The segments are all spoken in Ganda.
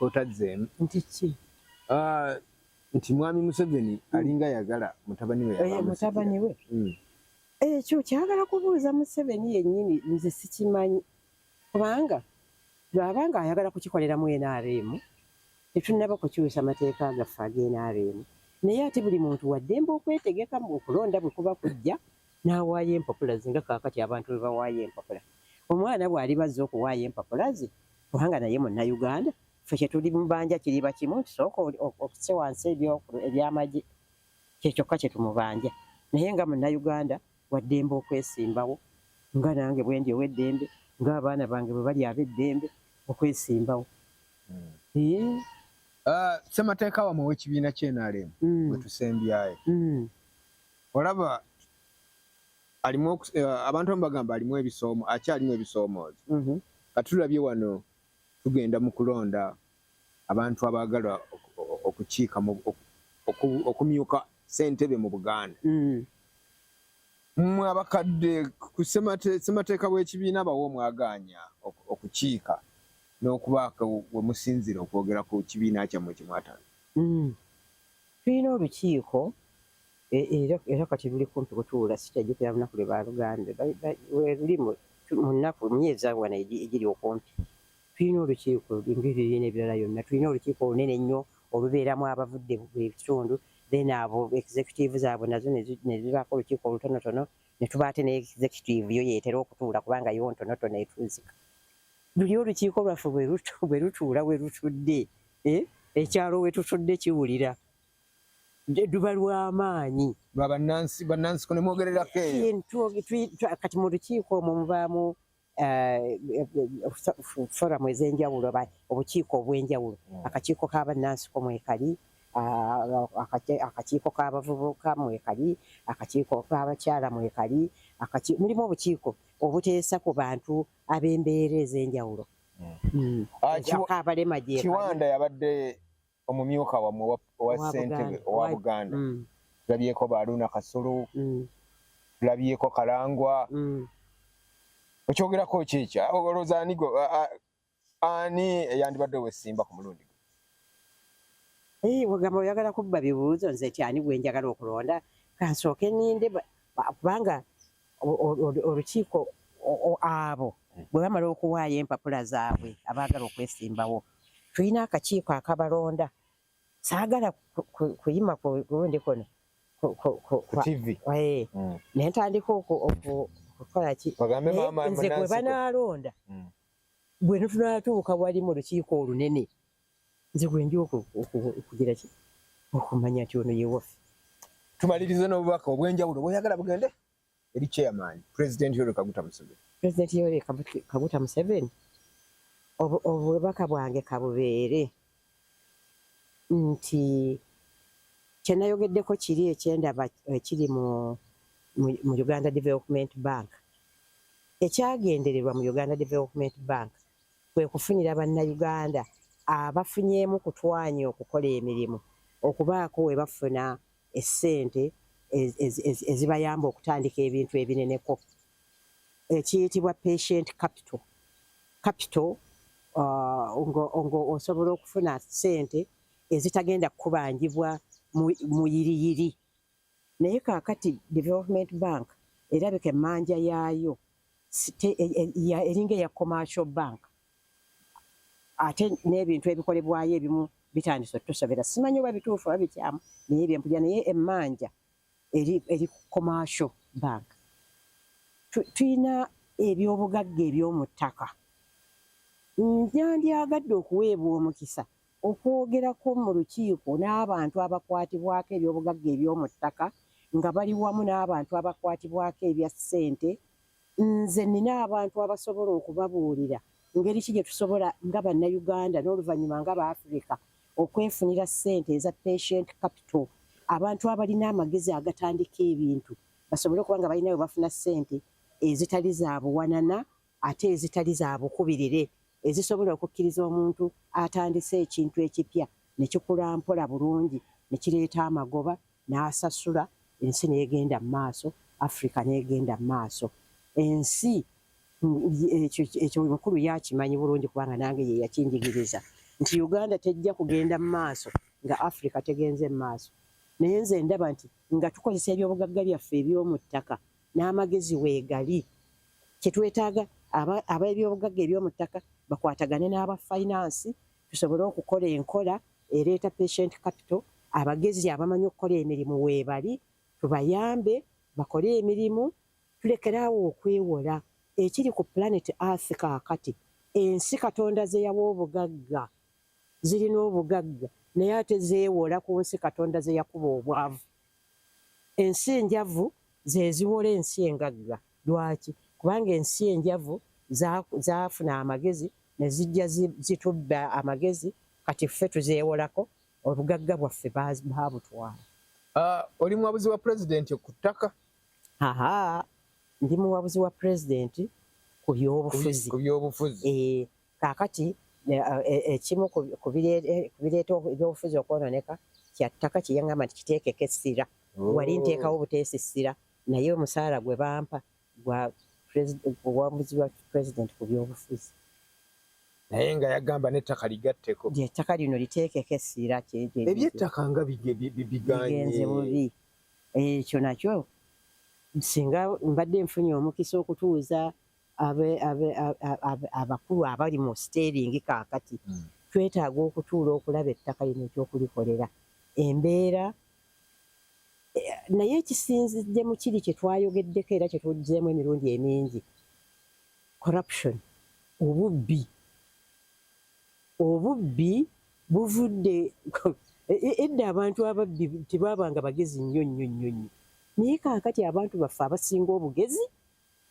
otazzeemu nti ki ah, nti mwami museveni hmm. alinga yagala mutabani we eh, mutabani we hmm. ekyo kyagala kubuuza museveni yennyini nze sikimanyi kubanga bwaba nga ayagala kukikoleramu nrm tetunaba kukyusa mateeka agaffe agenrm naye ate buli muntu waddembe okwetegekamu okulonda bwe kuba kujja n'awaayo empapula ze nga kaakati abantu bwe bawaayo empapula omwana bw'aliba azze okuwaayo empapula ze kubanga naye munnayuganda ffe kye tuli mubanja kiriba kimu nti sooka okuse wansi ebyamagye kyekyokka kye tumubanja naye nga munnayuganda waddembe okwesimbawo nga nange bwendi ow'eddembe ng'abaana bange bwe bali ab'eddembe okwesimbawo hmm. ah, ssemateeka wamwe ow'ekibiina kye nrm hmm. gwe tusembyayo hmm. olaba alimu eh, abantu abamu bagamba alimu ebisoomo akyalimu ebisoomoozo mhm. kati tulabye wano tugenda mu kulonda abantu abaagala okukiika okumyuka sentebe mu buganda mm. mwe abakadde ku ssemateeka bw'ekibiina bawo mwagaanya okukiika n'okubaako we musinzira okwogera ku kibiina kyammwe kyemwatana mm. Tulina olukiiko e, era, era kati luli kumpi kutuula sikyajjukira lunaku lwe baalugambye weruli mu nnaku myezi awo wano egiri okumpi tulina olukiiko ngeriina ebirala yonna tulina olukiiko olunene ennyo olubeeramu abavudde ebitundu then abo executive zaabwe nazo nezibaako olukiiko olutonotono netuba ate ne executive yo yeetera okutuula kubanga yo ntonotono etuuzika luli olukiiko lwaffe bwe lutuula we lutudde eh, ekyalo wetutudde kiwulira duba lwamaanyi lwabanansi kunemwogererako kati mu lukiiko omwo mubaamu eh, foramu ezenjawulo obukiiko obwenjawulo hmm. akakiiko kabanansiko mwekali ah, akakiiko kabavubuka mwekali akakiiko kabakyala mwekali mulimu obukiiko obuteesa ku bantu ab'embeera ezenjawulo Hmm. Ah, kiwanda yabadde omumyuka wamwe owa sentebe owa buganda hmm. tulabyeko baluuna kasulu hmm. tulabyeko kalangwa okyogerako kyekya olowooza anigo ani eyandibadde owesimba ku mulundi ogamba oyagala kubba bibuuzo nze kyani gwenjagala okulonda kansooke ninde kubanga olukiiko abo hmm. bwe bamala okuwaayo empapula zaabwe abaagala okwesimbawo tulina akakiiko akabalonda saagala kuyima ku lundi kuno eh, hmm. naye ntandika okukola ki nze gwe banaalonda hmm. bwe tunatuuka wali mu lukiiko olunene nze gwenja okugira ki okumanya nti ono yewaffe tumalirize n'obubaka obw'enjawulo bwoyagala bugende eri chairman president yoweri kaguta museveni president yoweri kaguta museveni obubaka bwange kabubeere nti kyenayogeddeko kiri ekyendaba ekiri mu mu uganda development bank ekyagendererwa mu uganda development bank kwe kufunira Bannayuganda abafunyeemu ku twanya okukola emirimu okubaako we bafuna essente ezibayamba okutandika ebintu ebineneko ekiyitibwa patient capital capital uh, ng'osobola okufuna ssente ezitagenda kukubanjibwa mu yiriyiri naye kakati development bank erabika emanja yaayo e, e, eringa eya commercial bank ate n'ebintu ebikolebwayo ebimu bitandise otusobera simanyi oba bituufu oba bikyamu naye byempuja naye emanja eri, eri commercial bank tulina ebyobugagga ebyomuttaka njandyagadde okuweebwa omukisa Okwogerako mu lukiiko n'abantu abakwatibwako eby'obugagga eby'omu ttaka nga bali wamu n'abantu abakwatibwako ebya ssente, nze nnina abantu abasobola okubabuulira ngeri ki gye tusobola nga Bannayuganda n'oluvannyuma nga Baafirika okwefunira ssente eza patient capital, abantu abalina amagezi agatandika ebintu basobole okuba nga balina we bafuna ssente ezitali za buwanana ate ezitali za bukubirire ezisobola okukkiriza omuntu atandise ekintu ekipya ne kikula mpola bulungi ne kireeta amagoba n'asasula ensi n'egenda mu maaso afrika n'egenda mu maaso ensi ekyo mukulu yakimanyi bulungi kubanga nange ye yakinjigiriza nti uganda tejja kugenda mu maaso nga afrika tegenze mu maaso naye nze ndaba nti nga tukozesa ebyobugagga byaffe ebyomu ttaka n'amagezi weegali kye twetaaga ab'ebyobugagga eby'omu ttaka bakwatagane n'aba fayinansi tusobole okukola enkola ereeta patient capital abagezi abamanyi okukola emirimu weebali tubayambe bakole emirimu tulekeraawo okwewola ekiri ku planet earth kaakati ensi katonda zeyawa obugagga zirina obugagga naye ate zeewola ku nsi katonda zeyakuba obwavu Ensi enjavu ze ziwola ensi engagga. Lwaki? Kubanga ensi enjavu zaafuna amagezi ne zijja zitubba amagezi, kati ffe tuzeewolako, obugagga bwaffe baabutwala. Ah, oli muwabuzi wa pulezidenti ku ttaka? Aha, ndi muwabuzi wa pulezidenti ku byobufuzi. Ku byobufuzi. Eh, Kaakati ekimu ku bireeta ebyobufuzi okwonooneka kya ttaka kye yangamba nti kiteekeko essira. Oh. Wali nteekawo obuteesa essira naye omusaala gwe bampa gwa obuwanguzi bwa pulezidenti ku byobufuzi. Naye nga yagamba n'ettaka ligatteko. Ettaka lino liteekeko essira. Ebyettaka nga bigenze bubi. Ekyo nakyo singa mbadde nfunye omukisa okutuuza abakulu abali mu siteeringi kaakati hmm. twetaaga okutuula okulaba ettaka lino ekyokulikolera embeera eh, naye ekisinzidde mu kiri kye twayogeddeko era kye tujjeemu emirundi emingi corruption obubbi obubbi buvudde e-, e-, edda abantu ababbi tebaabanga bagezi nnyo nnyo nnyo nnyo naye kaakati abantu baffe abasinga obugezi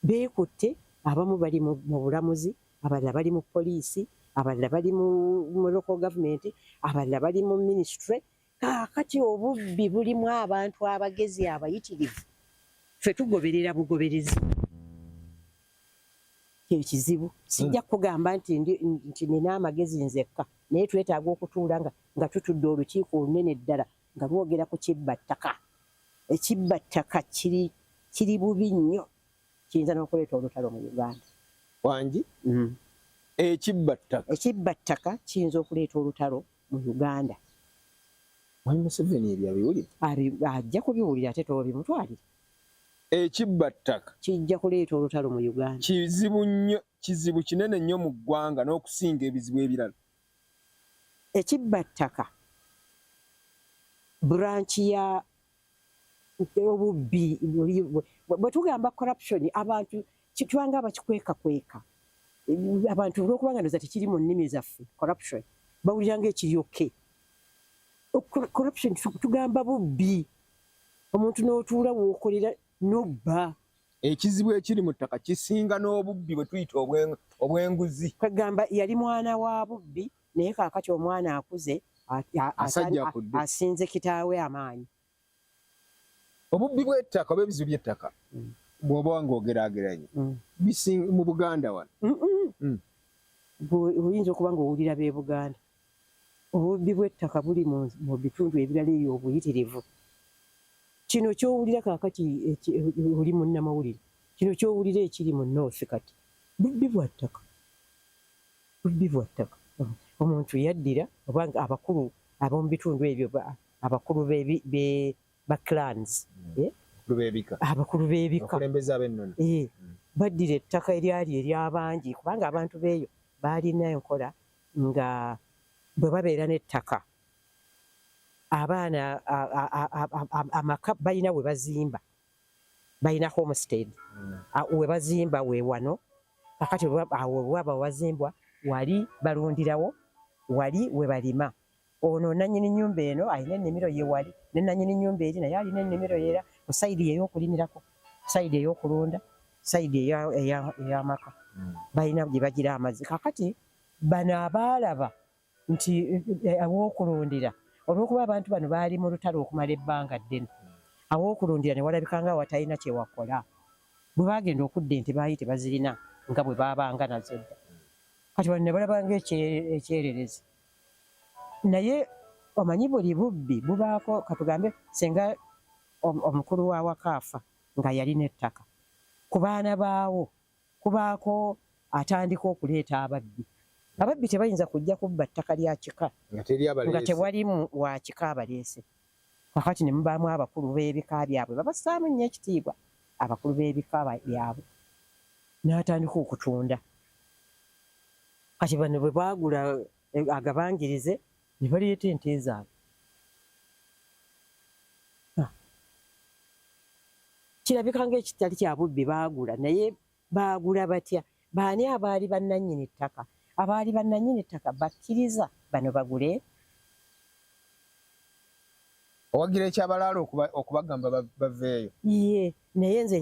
Beekutte, abamu bali mu mu bulamuzi, abalala bali mu poliisi, abalala bali mu mu local government, abalala bali mu ministry. Kaakati obubbi bulimu abantu abagezi abayitirivu, ffe tugoberera bugoberezi. Kye kizibu. Sijja kukugamba nti ndi nti nnina amagezi nzekka, naye twetaaga okutuula nga nga tutudde olukiiko olunene ddala, nga bwogera ku kibba ttaka ekibba ttaka kiri kiri bubi nnyo kiyinza n'okuleeta olutalo mu uganda wangi mm. ekibba ttaka ekibba ttaka kiyinza okuleeta olutalo mu uganda wali museveni ebyo abiwulira ajja kubiwulira ate tobimutwalire ekibba ttaka kijja kuleeta olutalo mu uganda kizibu nnyo kizibu kinene nnyo mu ggwanga n'okusinga ebizibu ebirala ekibbattaka buranki ya obubbi bwe tugamba corruption abantu kitwanga abakikwekakweka abantu olwokuba nga ndoza tekiri mu nnimi zaffe corruption bawulira nga ekiryoke corruption tugamba bubbi omuntu n'otuula wookolera nobba ekizibu ekiri mu ttaka kisinga n'obubbi bwe tuyita obw'enguzi. Kwegamba yali mwana wa bubbi naye kaakati omwana akuze asinze kitaawe amaanyi. Obubbi bw'ettaka oba ebizibu by'ettaka mm. bw'oba ng'ogeraageranya mm. mu Buganda wano mm. oyinza okuba ng'owulira b'e Buganda. Obubbi bw'ettaka buli mu bitundu ebirala eyo obuyitirivu. Kino ky'owulira kaakati oli munnamawulire, kino ky'owulira ekiri mu North kati bubbi bwa ttaka, bubbi bwa ttaka. Omuntu yaddira oba abakulu ab'omu bitundu ebyo abakulu ba clans hmm. eh? abakulu b'ebika eh, hmm. baddira ettaka eryali ery'abangi kubanga abantu b'eyo baalina enkola nga bwe babeera n'ettaka abaana amaka balina we bazimba balina homestead hmm. we bazimba we wano kakati awo waba wazimbwa wali balundirawo wali we balima Ono nanyini nyumba eno alina ennimiro ye wali ne nanyini nyumba eri naye alina ennimiro era ku sayidi ye y'okulimirako, sayidi ey'okulunda, sayidi ey'amaka hmm. balina gye bagira amazzi. Kakati bano abaalaba nti eh, aw'okulundira olw'okuba abantu bano baali mu lutalo okumala ebbanga ddene, hmm. aw'okulundira ne walabika nga watalina kye wakola. Bwe baagenda okudda ente baali tebazirina nga bwe baabanga nazo dda. Kati bano ne balaba ng'ekyererezi. naye omanyi buli bubbi bubaako katugambe singa omukulu wa wakaafa nga yalina ettaka ku baana baawo kubaako atandika okuleeta ababbi ababbi tebayinza kujja kubba ttaka lya kika nga tewali wa kika abaleese kakati ne mubaamu abakulu b'ebika byabwe babassaamu nnyo ekitiibwa abakulu b'ebika byabwe n'atandika okutunda kati bano bwe baagula eh, agabangirize ne baleeta ente zaabwe ah. kirabika ngaekitali kya bubbi baagula naye Baagula batya? Baani abaali bannannyini ttaka? Abaali bannannyini ttaka bakkiriza bano bagule? Owagira ekyabalaala okubagamba baveeyo? Yee, naye nze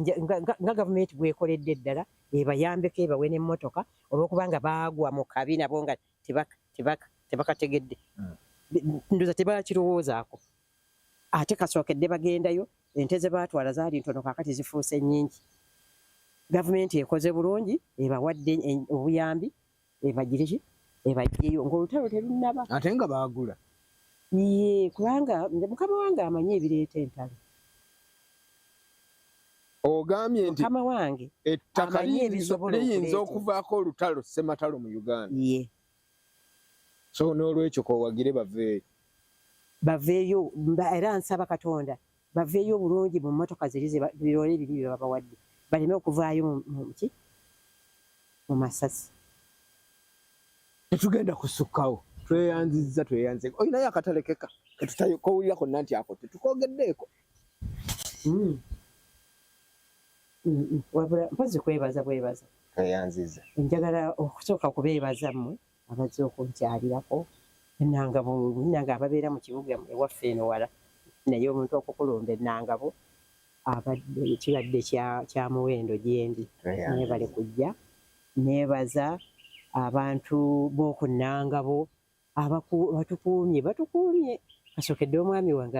nga gavumenti bwekoledde ddala ebayambeko ebawe n'emmotoka olw'okubanga baagwa mu kabi nabo nga tebakategedde. Hmm. Ndoza tebakirowoozaako. Ate kasookedde bagendayo, ente ze baatwala zaali ntono kaakati zifuuse nnyingi. Gavumenti ekoze bulungi ebawadde obuyambi ebagire ki ebaggyeyo ng'olutalo terunnaba. Ate nga baagula. Yee kubanga mukama wange amanyi ebireeta entalo. Ogambye nti mukama wange ettaka liyinza okuvaako olutalo ssematalo mu Uganda. Yee. so n'olwekyo kowagire baveeyo baveeyo era nsaba katonda baveeyo obulungi mu mmotoka ziri birole ebiri bye babawadde baleme okuvaayo muki mu masasi tetugenda kusukkawo tweyanzizza tweyanze olinayo akatalekeka ketutayokowulira konna nti ako tetukogeddeeko hmm. wabula mpozi kwebaza bwebaza eyanziza njagala okusooka kubeebaza mmwe abazze okunkyalirako enangabo nange ababeera mu kibuga ewaffe eno wala naye omuntu okukulumba enangabo abadde kibadde kya muwendo gyendi nebale kujja nebaza abantu b'oku nangabo batukuumye batukuumye kasookedde omwami wange